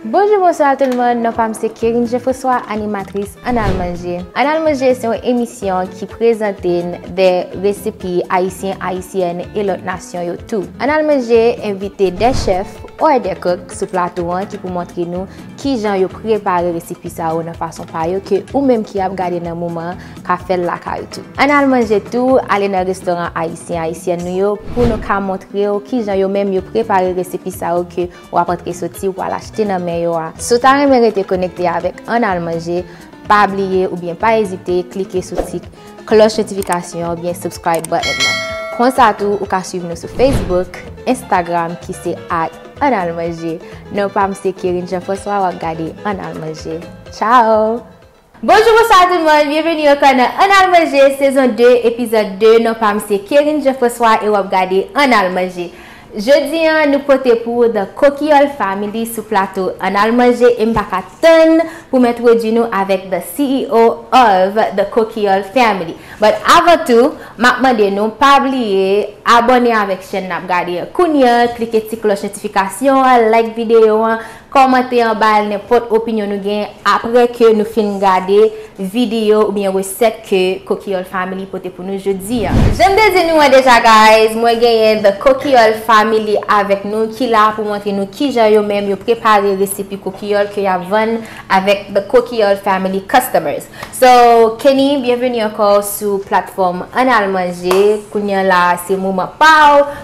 Bonjou bonswa tout moun, non pam se Kerine Jefresois animatris Ann al manje. Ann al manje se yon emisyon ki prezante n de resepi ayisyen, ayisyèn e lòt nasyon yo tou. Ann al manje envite de chèf or de kok sou plato an ki pou montre nou kijan yo prepare resepi sa yo nan fason pa yo ke ou menm ki ap gade nan moman an ka fè l lakay ou tou. Ann al manje tou ale nan restoran ayisyen, ayisyèn nou yo pou nou ka montre w kijan yo menm yo prepare resepi sa yo ke w ap antre soti ou pral achte nan men yo a. Si w ta renmen rete konekte avèk Ann al manje, pa bliye oubyen pa ezite klike sou ti klòch notifikasyon an oubyen subscribe button nan. Konsa tou ou ka swiv nou sou Facebook, Instagram ki se at Ann al manje. Non pa m se Kerine Jean François w ap gade Ann al manje. Ciao! Bonjou bonswa tout moun, byenveni ankò nan Ann al manje sezon 2 epizòd 2, non pam se Kerrine Jean François e wap gade Ann al manje. Jodi an nou pote pou ou The Coquiole Family sou plato Ann al manje em paka tann pou m entwodui nou avèk the CEO of the Coquiole Family but avan tou map mande nou pa bliye abòne avèk chèn nap gade an kounya klike ti klòch notifikasyon an like videyo an Kòmante anba al nenpòt opinyon nou gen aprè ke nou fin gade videyo oubyen resèt ke Kokiyòl Family pote pou nou jodi a. Janm te di nou an deja guys, mwen genyen The Kokiyòl Family avèk nou ki la pou montre nou kijan yo menm yo prepare resipi kokiyòl ke yap vann avèk The Kokiyòl Family Customers. So, Kenny, byenveni ankò sou platfòm Ann Al Manje, kounye an la se moman pa w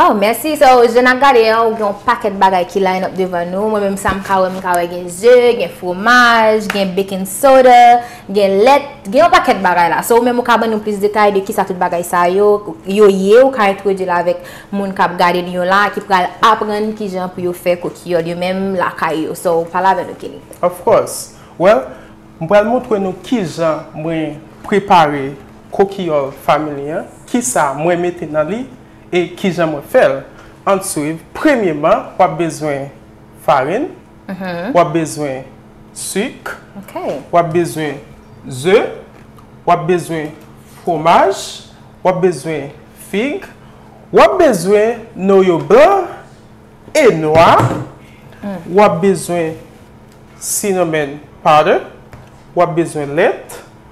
Aww mèsi so je nap gade an ou gen yon pakèt bagay ki line up devan nou mwen menm sa m ka wè m ka wè gen ze gen fromaj gen baking soda gen lèt gen yon pakèt bagay la so ou menm ou ka ban nou plis detay de kisa tout bagay sa yo yo ye ou ka entwodui l avèk moun kap gade nou yo la ki pral aprann kijan pou yo fè kokiyòl yo menm lakay yo so pale avè nou Kenny. Of course well m pral montre nou kijan mwen prepare Kokiyòl Family an, kisa mwen mete nan li e kijan mwen fèl? Ann swiv, premyeman wap bezwen farin, wap bezwen suk, wap bezwen ze, wap bezwen fwomaj, wap bezwen fig, wap bezwen noyo blan e nwa, wap bezwen cinnamon powder, wap bezwen lèt.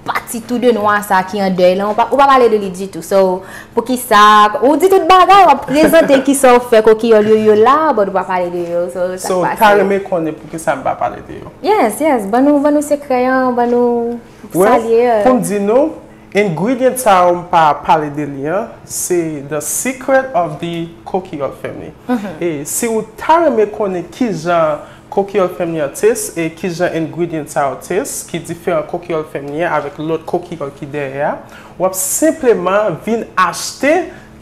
Pati tou de nwa sa ki an dèy lan ou pa pale de li ditou so poukisa ou di tout bagay wap prezante kisa ou fè kokiyòl yo yo la but ou pa pale de yo so sak pase. So ou ta renmen konnen poukisa m pa pale de yo? Yes yes ban nou ban nou sekrè an ban nou sa l ye. Well pou m di nou ingredient sa yo m pa pale de li an se the secret of the kokiyòl family e si ou ta renmen konnen kijan Kokiyòl fèmye an tes e ki jan ingredient sa yo tes ki diferan kokiyòl fèmye a avèk lòt kokiyòl ki dèyè a, w ap senpleman vin achte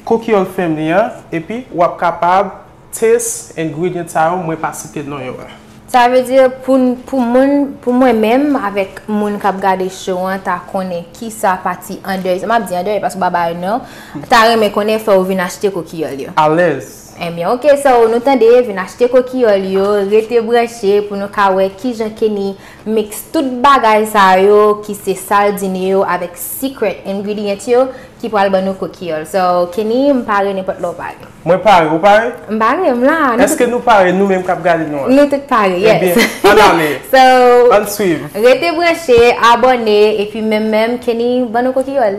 kokiyòl fèmye an epi w ap kapab tes ingredient sa yo mwen pa site non yo a. Sa vle di pou n pou moun pou mwen menm avèk moun k ap gade show an ta konnen ki sa pati andèy m ap di andèy paske w pa ba yo non ta renmen konnen fò ou vin achte kokiyòl yo. Alèz. Enbyen ok so nou tande vin achte kokiyòl yo rete branche pou nou ka wè kijan Kenny mix tout bagay sa yo ki se sal dine yo avèk secret ingredient yo ki pral ban nou kokiyòl so Kenny m pare nenpòt lè w pare. Mwen pare, ou pare? M pare, m la. Eske nou pare nou menm kap gade nou an? Nou tout pare, yes. Enbyen, ann ale. So, ann swiv. Rete branche, abòne, epi menm menm Kenny ban nou kokiyòl.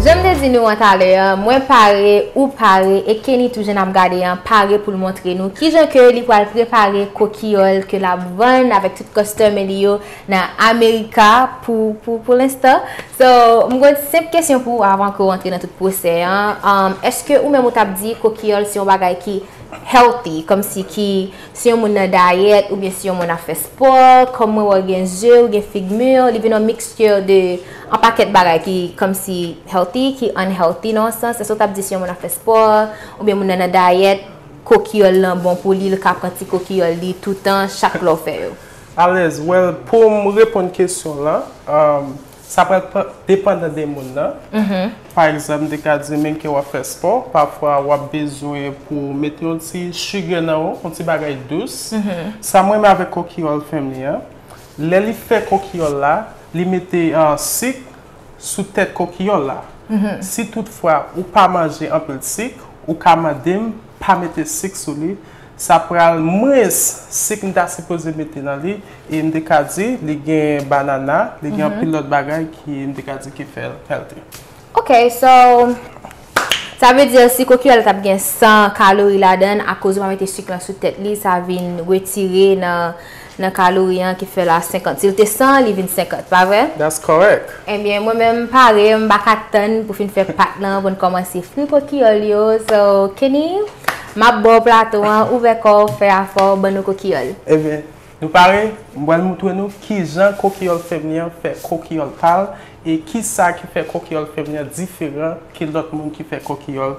Janm te di nou an talè an, mwen pare, ou pare e Kenny tou jan nap gade an pare poul montre nou kijan ke li pwal prepare kokiyòl ke lap vann avèk tout kòstòme li yo nan America pou pou lenstan. So, m gon senp kesyon pou ou avan ke ou antre nan tout pwosè an, èske ou menm ou tap di kokiyòl se yon bagay ki healthy, kòmsi ki Si yon moun nan dayèt oubyen si yon moun ap fè spò, kòm mwen wè w gen ze, ou gen fig mûr, li vin yon mixture de yon pakèt bagay ki kòmsi healthy, ki unhealthy nan yon sans. Èske w t ap di si yon moun ap fè spò, oubyen moun nan nan dayèt, kokiyòl lan bon pou li, li ka pran ti kokiyòl li toutan, chak lè w fè yo? Alèz, wèl pou m reponn kesyon lan, Sa pral depandan de moun nan. Pa egzanp, de ka di menm ke w ap fè spò, pafwa w ap bezwen pou w mete yon ti sugar nan ou, yon ti bagay dous. Sa mwen renmen avèk kokiyòl fèm li an, lè li fè kokiyòl la, li mete sik sou tèt kokiyòl la. Si tout fwa ou pa manje anpil sik, ou ka mande m pa mete sik sou li. Sa pral mwens sik m ta sipoze mete nan li e m te ka di li gen banana, li gen anpil lòt bagay ki m te ka di ki fè l healthy. Ok so sa vle di si kokiral tap gen 100 kalori ladan akoz ou pa mete sik lan sou tèt li sa vin retire nan Nan ka Louis an ki fè la 50. Si l te 100 li vin 50 pa vre? That's correct. Ebyen mwen menm m pare m pa ka tann pou fin fè pat lan pou n kòmanse fri kokiyòl yo so Kenny m ap ba w plato an ouvè kò w fè afè w ban nou kokiyòl. Ebyen nou pare m pral moutre nou kijan kokiyòl femni an fè kokiyòl pa l e kisa ki fè kokiyòl femni an diferan ke lòt moun ki fè kokiyòl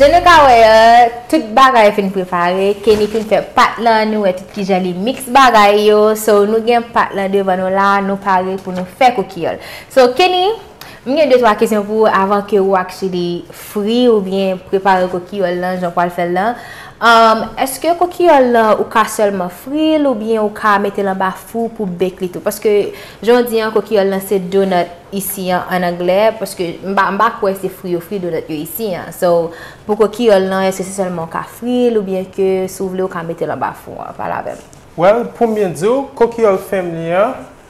Jan nou ka wè an, tout bagay fin prepare, Kenny fin fè pat lan, nou wè tout kijan li mix bagay yo, so nou gen pat lan devan nou la, nou pare pou nou fè koukiyòl. So Kenny, m gen de twa kesyon pou ou avan ke ou ak Chidi fri ou byen prepare kokiyòl lan jan ou pral fè l lan. Eske kokiyòl lan ou ka sèlman fri l ou byen ou ka mete l anba fou pou bake li tou? Paske jan ou di an kokiyòl lan se donut isi an an anglè, paske m pa m pa kwè se fri yo fri donut yo isi an. So pou kokiyòl lan eske se sèlman ou ka fri l ou byen ke si w vle ou ka mete l anba fou an? Pale avè m. Well pou m byen di w, kokiyòl fèm li an,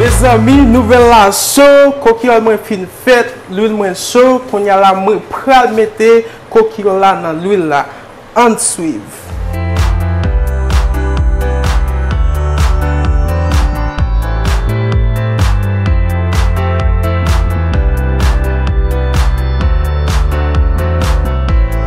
Mezanmi nouvèl la cho, kokiyòl mwen fin fèt, lwil mwen cho, kounya la mwen pral mete kokiyòl la nan lwil la. Ann swiv.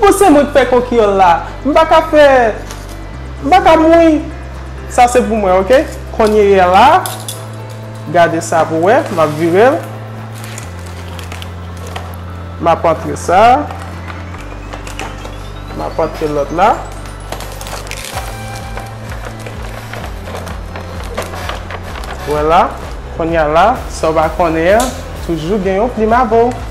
Bon se mwen k fè kokyol la. M pa ka fè M pa ka mouin Sa se pou mwen ok Konyeyè la Gade sa pou wè M ap vire l M ap antre sa M ap antre lòt la Wè la Konya la Sa w pa konnen an Toujou gen yon plim avè w.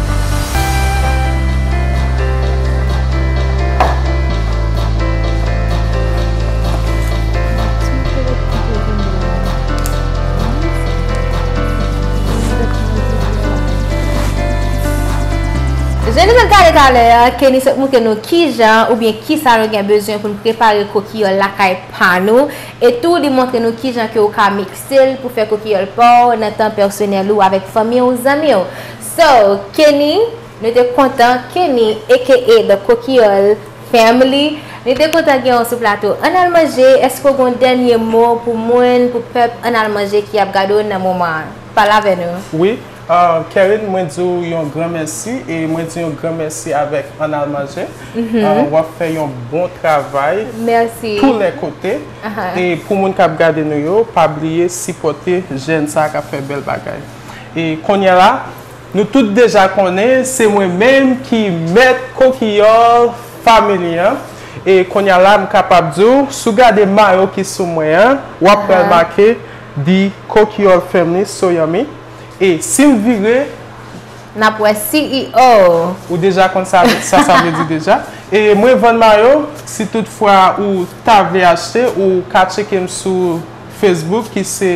Jan nou te gade talè a, Kenny sot moutre nou kijan oubyen kisa nou gen bezwen pou n prepare kokiyòl lakay pa nou e tou li montre nou kijan ke ou ka mikse l pou fè kokiyòl pa w nan tan pèsonèl ou avèk fanmi w, zanmi w. So Kenny nou te kontan Kenny aka the Coquiole family nou te kontan gen w sou plato Ann al manje èske w gen yon dènye mo pou moun pou pèp Ann al manje ki ap gade w nan moman an pale avè nou. Wi Kerrine mwen di w yon gran mèsi e mwen di yon gran mèsi avèk Ann al manje wap fè yon bon travay tou lè kote e pou moun kap gade nou yo pa bliye sipòte jèn sa kap fè bèl bagay. E kounye a la, nou tout deja konnen se mwen menm ki mèt Kokiyòl Family an. E kounye a la m kapab di w, si w gade mayo ki sou mwen an, w ap wè l make The Kokiyòl Family So Yummy. E si m vire. N ap wè CEO. Ou deja konn sa sa vle di deja. E mwen vann mayo, si tout fwa ou ta vle achte, ou ka tcheke m sou Facebook ki se.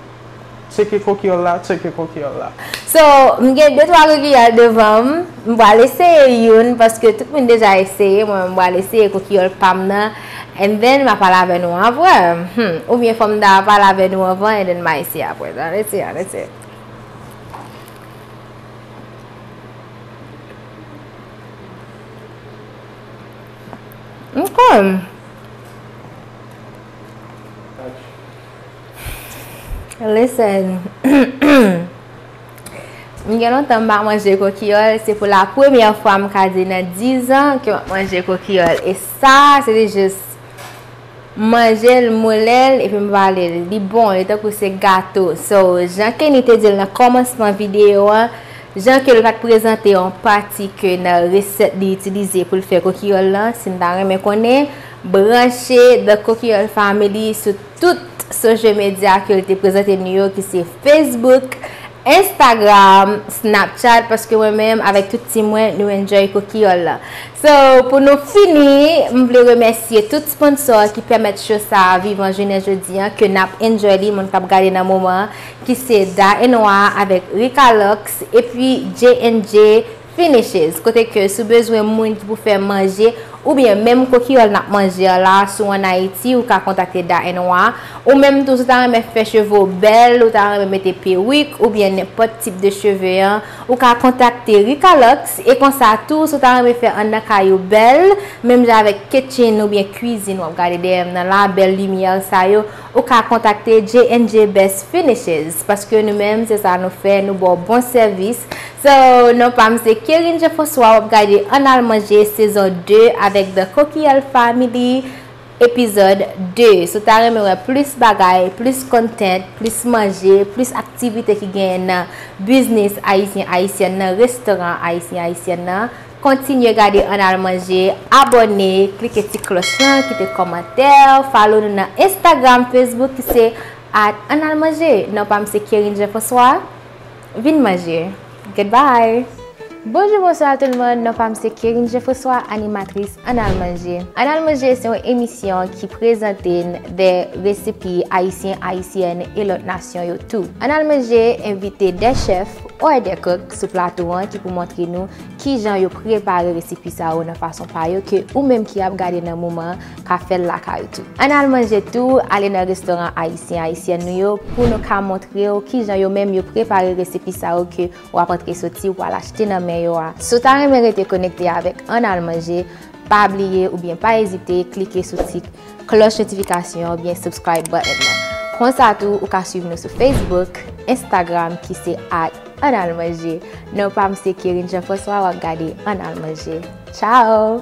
Tcheke kokyèl la, tcheke kokyèl la. So, m gen de twa kokyèl devan m. M pral eseye youn paske tout moun deja eseye, mwen menm m pral eseye kokyèl pa m nan and then m a pale avè nou aprè. Humm. Oubyen fò m ta pale avè nou anvan and then m a eseye aprè. An eseye, an eseye. Ok. Listen, m gen lontan m pa manje kokiyòl, se pou la premyè fwa m ka di nan 10 an ke m ap manje kokiyòl. E sa, se te jis manje l, moule l, epi m vale l. Li bon, li tankou se gato. So, jan Kenny te di l nan kòmansman videyo an, jan ke l pa t prezante yon pati ke nan resèt li itilize pou l fè kokiyòl lan, si n ta renmen konnen, branche The Kokiyòl Family sou. Tout social media ke l te prezante nou yo ki se Facebook, Instagram, Snapchat paske mwen menm avèk tout team mwen nou enjoy Kokiyòl la. So pou nou fini m vle remèsye tout sponsor ki pèmèt show sa a vivan jounen jodi an ke n ap enjoy li moun k ap gade nan moman an ki se Da Enoir avèk Ricalox epi J&J Finishes, kote ke si w bezwen moun ki pou fè manje, oubyen menm kokiyòl nap manje an la, si w an Ayiti, ou ka kontakte Da and Wa. Ou menm tou, si w ta renmen fè cheve w bèl, ou ta renmen mete perik, oubyen nenpòt tip de cheve an, ou ka kontakte Rika Lux. E konsa tou, si w ta renmen fè anndan kay ou bèl, menm jan avèk kitchen oubyen kwizin wap gade dèyè m nan la, bèl limyè sa yo, Ou ka kontakte JNJ Best Finishes paske nou menm se sa nou fè nou baw bon sèvis So non pam se Kerine Jean François wap gade Ann al manje sezon 2 avèk The Coquille Family Epizòd 2 Si w ta renmen wè plis bagay plis content plis manje plis aktivite ki genyen nan biznis Ayisyen Ayisyèn nan restoran Ayisyen Ayisyèn nan Kontinye gade ann al manje, abòne, klike ti klòch lan, kite kòmantè, follow nou nan Instagram, Facebook ki se at ann al manje. Non pa m se Kerrine Jean François. Vin manje. Goodbye! Bonjou bonswa tout moun, non pa m se Kerrine Jean François, animatris ann al manje. Ann al manje se yon emisyon ki prezante n de resipi ayisyen, ayisyèn e lòt nasyon yo tou. Ann al manje envite de chèf or de kok sou plato an ki pou montre nou Kijan yo prepare resipi sa yo nan fason pa yo ke ou menm ki ap gade nan moman an ka fè l lakay ou tou. Ann al manje tou, ale nan restoran ayisyen, ayisyèn nou yo pou nou ka montre w kijan yo menm yo prepare resipi sa yo ke w ap antre soti, w al achte nan men yo a. Si w ta renmen rete konekte avèk Ann al manje, pa bliye oubyen pa ezite klike sou tik. Klòch notifikasyon oubyen subscribe button nan. Konsa tou ou ka swiv nou sou Facebook, Instagram ki se at Ann Al Manje. Non pa m se Kerine Jean François wap gade Ann Al Manje. Ciao!